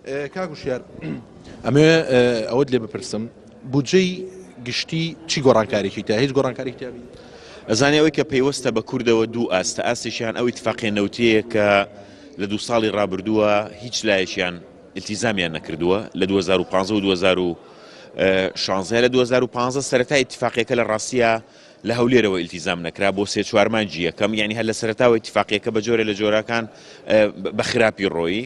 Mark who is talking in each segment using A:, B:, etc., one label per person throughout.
A: کاک وشیار ئەمەوێ ئەوەت لێ بپرسم بودجەی گشتی چی گۆڕانکارێکی تا هیچ گۆڕانکاری تیابی ئەزانانی ئەوەی کە
B: پەیوەستە بە کوردەوە دوو ئاستە ئاستێکیان ئەوی تفاقێ نەوتەیە کە لە دو ساڵی ڕابردووە هیچ لایەکیان التیزامیان نەکردووە لە 2015 و 2016 لە 2015 سەرەتا اتفاقیەکە لە ڕاستە لە هەولێرەوە التیزام نەکرا بۆ سێ چوارمانجی یەکەم یعنی هەر لە سەرتاوە اتفاقیەکە بە جۆرە لە جۆراکان بە خراپی ڕۆیی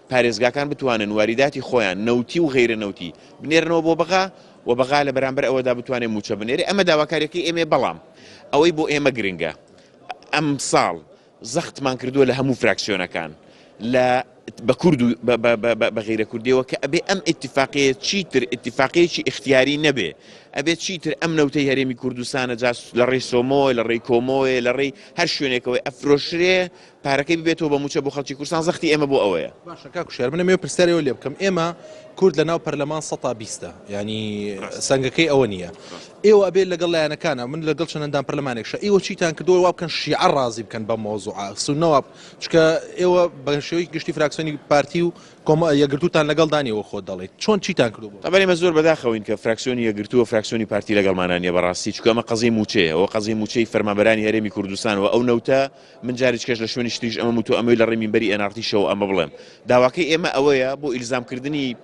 B: پارێزگاکان بتوانن واریداتی خۆیان، نەوتی و غەیرە نەوتی، بنێرنەوە بۆ بەغا و بەغا لە بەرامبەر ئەوەدا بتوانێت مووچە بنێرێت، ئەمە داواکارییەکەی ئێمەیە، بەڵام ئەوەی بۆ ئێمە گرنگە ئەمساڵ زەختمان کردووە لە هەموو فراکسیۆنەکان لە بە کورد و بە غەیرە کوردیەوە کە ئەبێ ئەم ئیتفاقەیە چیتر ئیتفاقەیەکی ئیختیاری نەبێ ئەبێت چیتر ئەم نەوتەی هەرێمی کوردستانە جاس لە ڕێی سۆمۆی لە ڕێی کۆمۆیە لە ڕێی هەر شوێنێکەوەی ئەفرۆشرێ پارەکەی ببێتەوە بە موچە بۆ خەلکی کورسان زەختی ئێمە بۆ ئەوەیە. باشە کاک وشیار منە مێ
A: پرسیارەوە لێ بکەم ئێمە کورد لە ناو پەرلەمان سەتا بیستە ینی سنگەکەی ئەوە نییە ئێوە ئەبێت لەگەڵ لایەنەکانە من لەگەڵ چەنددان پەرلەمانێک شە ئیوە چیتان کردووە وا بکەن شیعە ڕازی بکەن بە مۆزوع سونەوە چکە ئێوە بە شێوەی گشتی فراکسۆنی پارتی و کۆمە یەگرتوتان لەگەڵ دانیەوە خۆ دەڵێت چۆن چیتان کردو ئەبێ مە زۆر بەداخەوەین
B: کە فراکسیۆنی یەگرتووە فراکسیۆنی پارتی لەگەڵمانانیە بەڕاستی چکەمە قەزی موچەیە ئەو قەزی موچەی فەرمانبەرانی هەرێمی کوردستان و ئەو نەوتە من جاریچ کەش لە شوێنیچ تریش ئەمەم وتوە ئەمەوی لە ڕێی مینبەری ئێن ئاڕتی شەوە ئەمە بڵێم داواکەی ئێمە ئەوەیە بۆ ئیلزام کردنی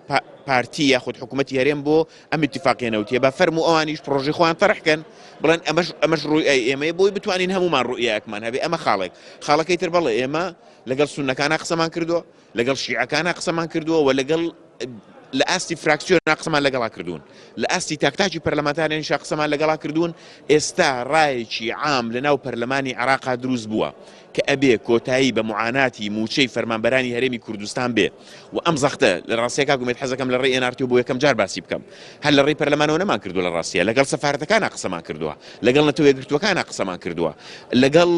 B: پارتی یاخود حکوومەتی هەرێم بۆ ئەم اتفاقیە نەوتیە بە فەرم و ئەوانیش پرۆژی خۆیان تەرحکەن بڵێن ئەمەش ئەمەش ڕووی ئەی ئێمە بۆی بتوانین هەمومان ڕوئیەکمان هەبێ ئەمە خاڵێک خاڵەکەی تر بەڵێ ئێمە لەگەڵ سونەکانە قسەمان کردووە لەگەڵ شیعەکانا قسەمان کردووە و لەگەڵ لە ئاستی فراکسیۆنا قسەمان لەگەڵا کردوون لە ئاستی تاکتاکی پەرلەمانتارێنشا قسەمان لەگەڵا کردوون ئێستا ڕایەکی عام لە ناو پەرلەمانی عراقا دروست بووە کە ئەبێ کۆتایی بە معاناتی موچەی فەرمانبەرانی هەرێمی کوردستان بێ و ئەم زەختە لە ڕاستیەکە گومێت حەزەکەم لە ڕێ ئێنارتیو بۆ یەکەم جار باسی بکەم هەر لە ڕێی پەرلەمانەوە نەمان کردو لە ڕاستیە لەگەڵ سەفارەتەکانە قسەمان کردووە لەگەڵ نەتەوە یەکگرتووەکانە قسەمان کردووە لەگەڵ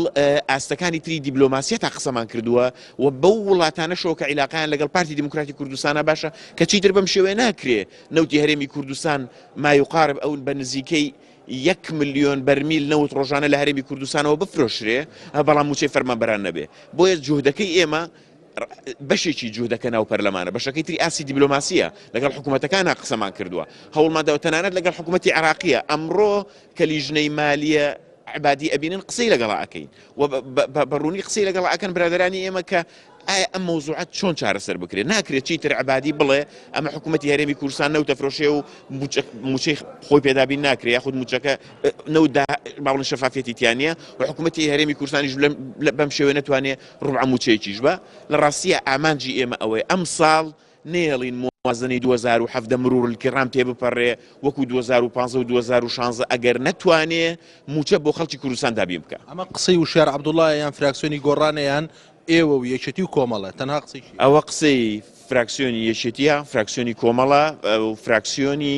B: ئاستەکانی تری دیبلۆماسیە تا قسەمان کردووە و بەو وڵاتانەشەوە کە عیلاقەیان لەگەڵ پارتی دیموکراتی کوردستانە باشە کە چیتر بەم شێوەیە ناکرێ نەوتی هەرێمی کوردستان مایوقارب ئەون بە نزیکەی یەک ملیۆن بەرمیل نەوت ڕۆژانە لە هەرێمی کوردستانەوە بفرۆشرێ بەڵام موچەی فەرمانبەران نەبێ بۆیە جوهدەکەی ئێمە بەشێکی جوودەکە ناو پەرلەمانە بەشەکەی تری ئاسی دیبلۆماسیە لەگەڵ حکوومەتەکانە قسەمان کردووە هەوڵمادەوە تەنانەت لەگەڵ حکوومەتتی عراقیە ئەمڕۆ کە لیژنەی مالیە عەبادی ئەبینن قسەی لەگەڵا ئەکەین و بە ڕوونی قسەی لەگەڵا ئەکەن برادرانی ئێمە کە ئایا ئەم مەوزوعات چۆن چارەسەر بکرێت ناکرێت چیتر عبادی بڵێ ئەمە حکوومەتتی هەرێمی کورسان نەوتە فرۆشێ و موچەی خۆی پێدابین ناکرێت یاخود موچەکە نەودا باڵن شەفافەتی تیانە و حکوومەتتی هەرێمی کورسانیش بەم شێوێ نتوانێت ڕوعە موچەیەکیش بە لە ڕاستیە ئامانجی ئێمە ئەوەی ئەم ساڵ نەیەڵین موازنەی دوو هەزار و حەڤدە مروڕلکیڕام تێ بپەڕێ وەکو دوو هەزار و پازدە و دوو هەزار و شانزە ئەگەر نەتوانێ مووچە بۆ خەڵکی کوردستان دابین بکا. ئەمە قسەی وشیار
A: عەبدوڵایە یان فراکسیۆنی گۆڕانە یان ئێوە و یەکێتی و کۆمەڵە؟ تەنها قسەی کێ؟ ئەوە قسەی
B: فراکسیۆنی یەکێتیە، فراکسیۆنی کۆمەڵە و فراکسیۆنی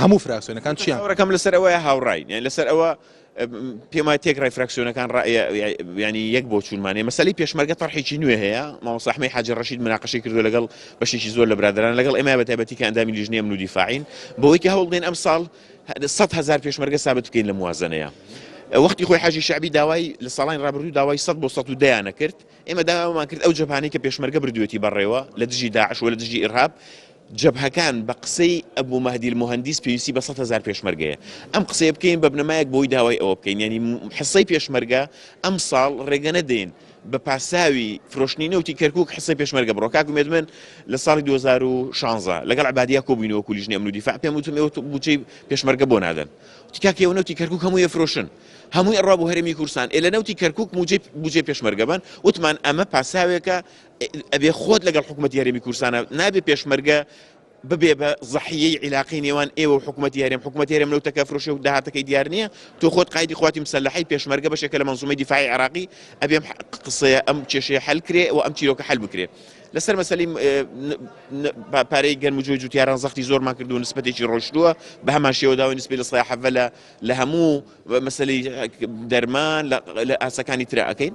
B: هەموو فراکسیۆنەکان
A: چیان؟ چاوەڕێکەم
B: لەسەر
A: ئەوەیە هاوڕاین
B: یان
A: لەسەر ئەوە
B: پێم وایە تێکڕای فراکسیۆنەکان ڕا- یا- یا- یعنی یەک بۆ چوونمانێ مەسەلی پێشمەرگە طرحێکی نوێ هەیە مامۆستا ئەحمەی حاجی ڕەشید مناقەشەی کردو لەگەڵ بەشێکی زۆر لە برادران لەگەڵ ئێمە بە تایبەتی کە ئەندامی لیژنەی ئەمن و دیفاعین بەوەی کە هەوڵ بدەین ئەمساڵ ه- سەد هەزار پێشمەرگە سابت بکەین لە موازنەیە وەختی خۆی حاجی شعبی داوای لە ساڵانی ڕابردوو داوای 100 بۆ 100 و دەیانە کرد ئێمە داوامان کرد ئەو جەپانەی کە پێشمەرگە بردوێتی بەڕێوە لە دژی داعش و لە دژی ئیرهاب جەبهەکان بە قسەی ئەبو مەهدی المهندس پێویستی بە سەد هەزار پێشمەرگەیە. ئەم قسەیە بکەین بە بنەمایەک بۆی داوای ئەوە بکەین یانی حصەی پێشمەرگە ئەم ساڵ رێگە نەدەین بە پاساوی فرۆشتنی نەوتی کەرکوک حصەی پێشمەرگە بڕۆ. کاک ئومێد من لە ساڵی دوو هەزار و شانزە لەگەڵ عەبادیە کۆبووین وەکو لیژنەی ئەمن و دیفاع پێم وتن ئێوە بودجەی پێشمەرگە بۆ نادەن. وتی کاک ئێوە نەوتی کەرکوک هەمووی ئەفرۆشن. هەمووی ئەڕوا بۆ هەرێمی کوردستان. ئێ لە نەوتی کەرکوک موجەی بودجەی پێشمەرگە بەن. وتمان ئەمە پاساوێکە ئەبێ خۆت لەگەڵ حکومەتی هەرێمی کورسانە نابێ پێشمەرگە ببێ بە زەحیەی عیلاقی نێوان ئێوە و حکوومەت یارێم حکوومەت یارێم لەو تەکە فرۆشێ و داهاتەکەی دیار نییە تۆ خۆت قایدی خواتی مسلحی پێشمەرگە بەشێکە لە منزومەی دیفاعی عراقی ئەبێم قسەیە ئەم کێشەیە حل کرێ و ئەم چیرۆکە حل بکرێ لەسەر مەسلی پارەی گەرم و جۆی جوتیاران زەختی زۆرمان کردو نسبەتێکی ڕۆشتووە بە هەمان شێوە داوای نسبی لە سای حەڤە لە هەموو مەسلی دەرمان لە ئاسەکانی ترراکەین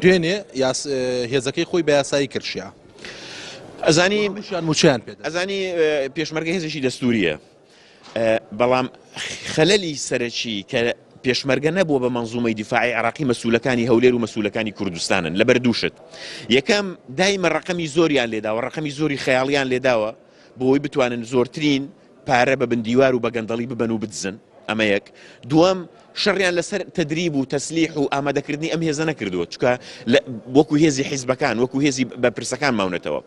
A: دوێنێ یاس هێزەکەی خۆی بە یاسایی کرد شیا
B: ئەزانی شان موچیان
A: پێ ئەزانی
B: پێشمەرگە هێزێکی دەستوریە بەڵام خەلەلی سەرەکی کە پێشمەرگە نەبووە بە منزومەی دیفاعی عراقی مەسوولەکانی هەولێر و مەسوولەکانی کوردستانن لە بەردووشت یەکەم دایمە ڕقمی زۆریان لێداوە ڕقمی زۆری خەیاڵیان لێداوە بۆی بتوانن زۆرترین پارە بە بندیوار و بە گەندەڵی ببەن و بدزن، ئەمە یەک. دووەم، شەڕیان لەسەر تەدریب و تەسلیح و ئامادەکردنی ئەم هێزە نەکردووە، چونکە لە وەکو هێزی حیزبەکان، وەکو هێزی بەرپرسەکان ماونەتەوە.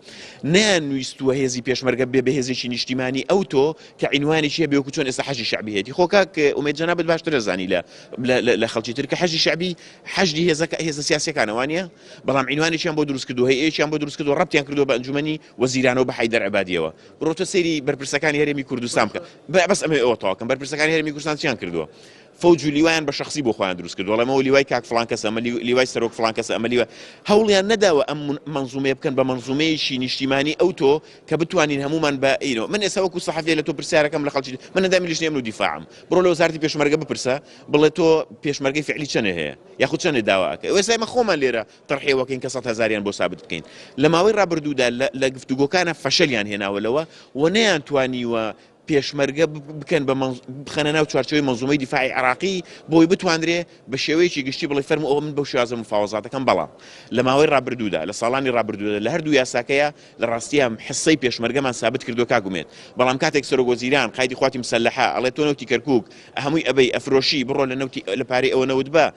B: نەیانویستووە هێزی پێشمەرگە ببێ بە هێزێکی نیشتیمانی ئەوتۆ کە عینوانێکی هەبێ وەکو چۆن ئێستا حەشدی شەعبی هەیەتی. خۆ کاک ئومێد جەنابت باشتر ئەزانی لە لە خەڵکی تر کە حەشدی شەعبی حەشدی هێزە هێزە سیاسیەکانە وانیە؟ بەڵام عینوانێکیان بۆ دروست کردووە، هەیئەیەکیان بۆ دروست کردووە، ڕەبتیان کردووە بە ئەنجومەنی وەزیرانەوە بە حەیدەر عبادیەوە بڕۆتە سەیری بەرپرسەکانی هەرێمی کوردستان بکە بەس ئەمێ ئەوە تاکەم بەرپرسەکانی هەرێمی کوردستان چیان کردووە فەوج و لیوایان بە شخصی بۆ خۆیان دروست کردو لەمەوە لیوای کاک فلان کەس ئەمە لیوای سەرۆک فلان کەس ئەمە لیوە هەوڵیان نەداوە ئەم منزومەیە بکەن بە منزومەیەکی نیشتیمانی ئەو تۆ کە بتوانین هەمومان بە ئینۆ من ئێستا وەکو سەحەفێ لە تۆ پرسیارەکەم لە خەڵکی من ئەندامی لیژنەی ئەمن و دیفاعم بڕۆ لە وەزارەتی پێشمەرگە بپرسە بڵێ تۆ پێشمەرگەی فعلی چەنێ هەیە یاخود چەنێ داواکە ئێستا ئێمە خۆمان لێرە تڕحێوەکەین کە سەد هەزاریان بۆ سابت بکەین لە ماوەی ڕابردوودا لە گفتوگۆکانە فەشەلیان هێناوە لەوە و نەیانتوانیوە پێشمەرگە بکەن بە بخەنە ناو چوارچەوەی مەزومەی دیفاعی عراقی بۆی بتواندرێ بە شێوەیەکی گشتی بڵی فەرم ئەوە من بەو شازە مفاوەزاتەکەم بەڵام لە ماوەی ڕابردوودا لە ساڵانی ڕابردوودا لە هەردوو یاساکەیە لە ڕاستیان حسەی پێشمەرگەمان سابت کردو کاگومێت بەڵام کاتێک سەرۆک وەزیران قایدی قواتی مسلحە ئەڵێ تۆ نەوتی کەرکک هەمووی ئەبەی ئەفرۆشی بڕۆ لە نەوتی لە پارەی ئەوە نەوت بە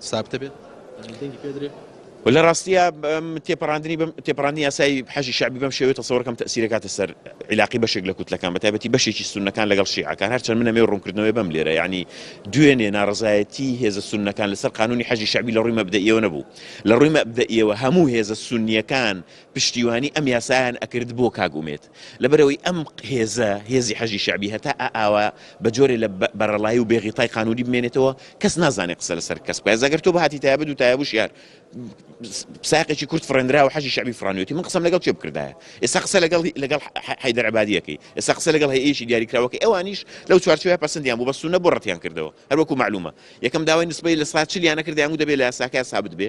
A: سابتە بێت دەنگی پێ درێ.
B: لە ڕاستیە تێپەڕاندنی بم تێپەڕاندنی یاسای حەشی شعبی بەم شێوێت تەسەوەرکەم تەسیرەکاتە سەر عیلاقی بەشێک لە کوتلەکان بە تایبەتی بەشێکی سونەکان لەگەڵ شیعەکان هەرچەند منە مێ ڕوونکردنەوەی بەم لێرە ینی دوێنێ ناڕزایەتی هێزە سونەکان لەسەر قانونی حەجی شعبی لە ڕووی مەبدەئیەوە نەبوو لە ڕووی مەبدەئیەوە هەموو هێزە سونیەکان پشتیوانی ئەم یاسایان ئەکرد بۆ کاگومێت لەبەرئەوەی ئەم هێزە، هێزی حەشدی شەعبی، هەتا ئا ئاوا بە جۆرێ لە بە بەرەڵایی و بێ غیتای قانوونی بمێنێتەوە، کەس نازانێ قسە لە سەر کەس بکا. ئێستا گەر تۆ بهاتی تایە بدو تایە بوشیار سایەقێکی کورد فڕێندرا و حەشدی شەعبی فڕانیوێتی، من قسەم لەگەڵ کێ بکردایە؟ ئێستا قسە لەگەڵ لەگەڵ حەیدەر عەبادی ئەکەی، ئێستا قسە لەگەڵ هەیئەیەکی دیاریکراو ئەکەی، ئەوانیش لەو چوارچێوەیە پەسندیان بوو، بەس سوننە بۆ ڕەتیان کردەوە؟ هەر وەکوو مەعلوومە یەکەم داوای نسبەی لە سەدا چل یان نەکردەیان و دەبێ لە یاساکەیا سابت بێ.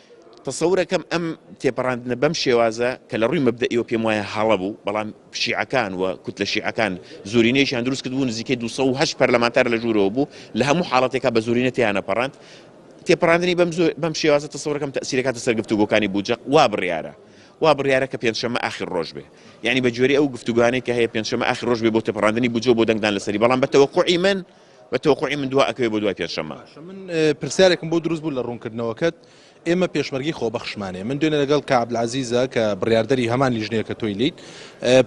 B: تەسەورەکەم ئەم تێپەڕاندنە بەم شێوازە کە لە ڕووی مەبدەئیەوە پێم وایە هەڵە بوو، بەڵام شیعەکان و کوتلە شیعەکان زۆرینەیەکیان دروست کردبوو، نزیکەی دوو سەد و هەشت پەرلەمانتار لە ژوورەوە بوو، لە هەموو حاڵەتێکا بە زۆرینە تێیانەپەڕاند. تێپەڕاندنی بەم زۆ- بەم شێوازە تەسەورەکەم تەئسیرەکاتە سەر گفتوگۆکانی بودجەق وا بڕیارە وا بڕیارە کە پێنجشەممە ئاخر ڕۆژ بێ یانی بە گوێرەی ئەو گفتوگۆیانەی کە هەیە پێنجشەممە ئاخر ڕۆژ بێ بۆ تێپەڕاندنی بودجە و بۆ دەنگدان لەسەری بەڵام بە تەوەقوعی من بە تەوقوعی من دوا ئەکەوێت بۆ دوای پێنجشەممە. من پرسیارێکم
A: بۆ دروست بوو لە ڕوونکردنەوەکەت، ئێمە پێشمەرگەی خۆبەخشمانەیە، من دوێنێ لەگەڵ کاک عەبدولعەزیزە کە بڕیاردەری هەمان لیژنەیە کە تۆی لیت،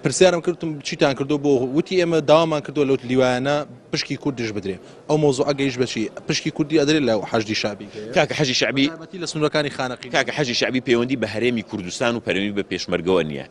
A: پرسیارم کرد وتم چیتان کردووە بۆ؟ وتی ئێمە داوامان کردووە لەو لیوایانە پشکی کوردیش بدرێ، ئەو مەوزوعە گەیشت بە چی؟ پشکی کوردی ئەدرێت لە حەشدی شەعبی؟ کاکە حەشی شەعبی،
B: بەتایبەتی لە سنوورەکانی خانەقین.
A: کاکە حەشی شەعبی پەیوەندی
B: بە هەرێمی کوردستان و پەیوەندی بە پێشمەرگەوە نییە،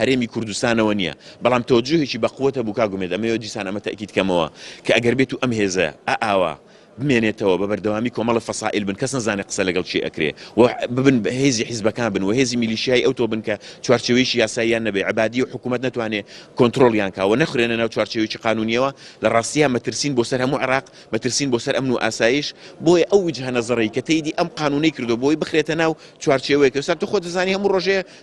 B: هەرێمی کوردستانەوە نیە بەڵام تەوەجوهێکی بە قوەت هەبوو کاک ئومێد ئەمەوێ دیسان ئەمە تەئکید کەمەوە کە ئەگەر بێتو ئەم هێزە ئە ئاوا بمێنێتەوە بە بەردەوامی کۆمەڵە فەسائیل بن کەس نەزانێ قسە لەگەڵ کێ ئەکرێ و ببن بە هێزی حیزبەکان بن و هێزی میلیشیای ئەوتۆ بن کە چوارچێوەیەکی یاساییان نەبێ عەبادی و حکومەت نەتوانێ کۆنترۆڵیان کا و نەخرێنە ناو چوارچێوەیەکی قانونیەوە لە ڕاستیا مەترسین بۆ سەر هەموو عێراق مەترسین بۆ سەر ئەمن و ئاسایش بۆیە ئەو وجهە نەزەرەی کە تێیدی ئەم قانونەی کردوە بۆی بخرێتە ناو چوارچێوەیەک ئێستا تو خۆت دەزانی هەموو ڕۆژێ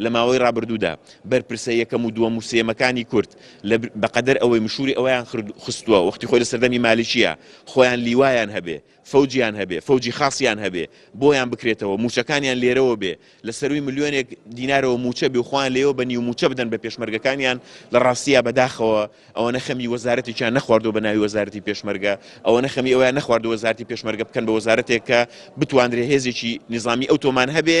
B: لە ماوەی ڕابردوودا بەرپرسە یەکەم و دووەم و سێیەمەکانی کورد لە بە قەدەر ئەوەی مشووری ئەوەیان خرد خستووە وەختی خۆی لە سەردەمی مالکییە خۆیان لیوایان هەبێ، فەوجیان هەبێ، فەوجی خاسیان هەبێ بۆیان بکرێتەوە، مووچەکانیان لێرەوە بێ، لە سەرووی ملیۆنێک دینارەوە مووچە بێ و خۆیان لێیەوە بە نیو مووچە بدەن بە پێشمەرگەکانیان، لە ڕاستییا بە داخەوە ئەوەنە خەمی وەزارەتێکیان نەخواردووە بە ناوی وەزارەتی پێشمەرگە، ئەوەنە خەمی ئەوەیان نەخواردووە وەزارەتی پێشمەرگە بکەن بە وەزارەتێک کە بتوانرێ هێزێکی نیزامی ئەوتۆمان هەبێ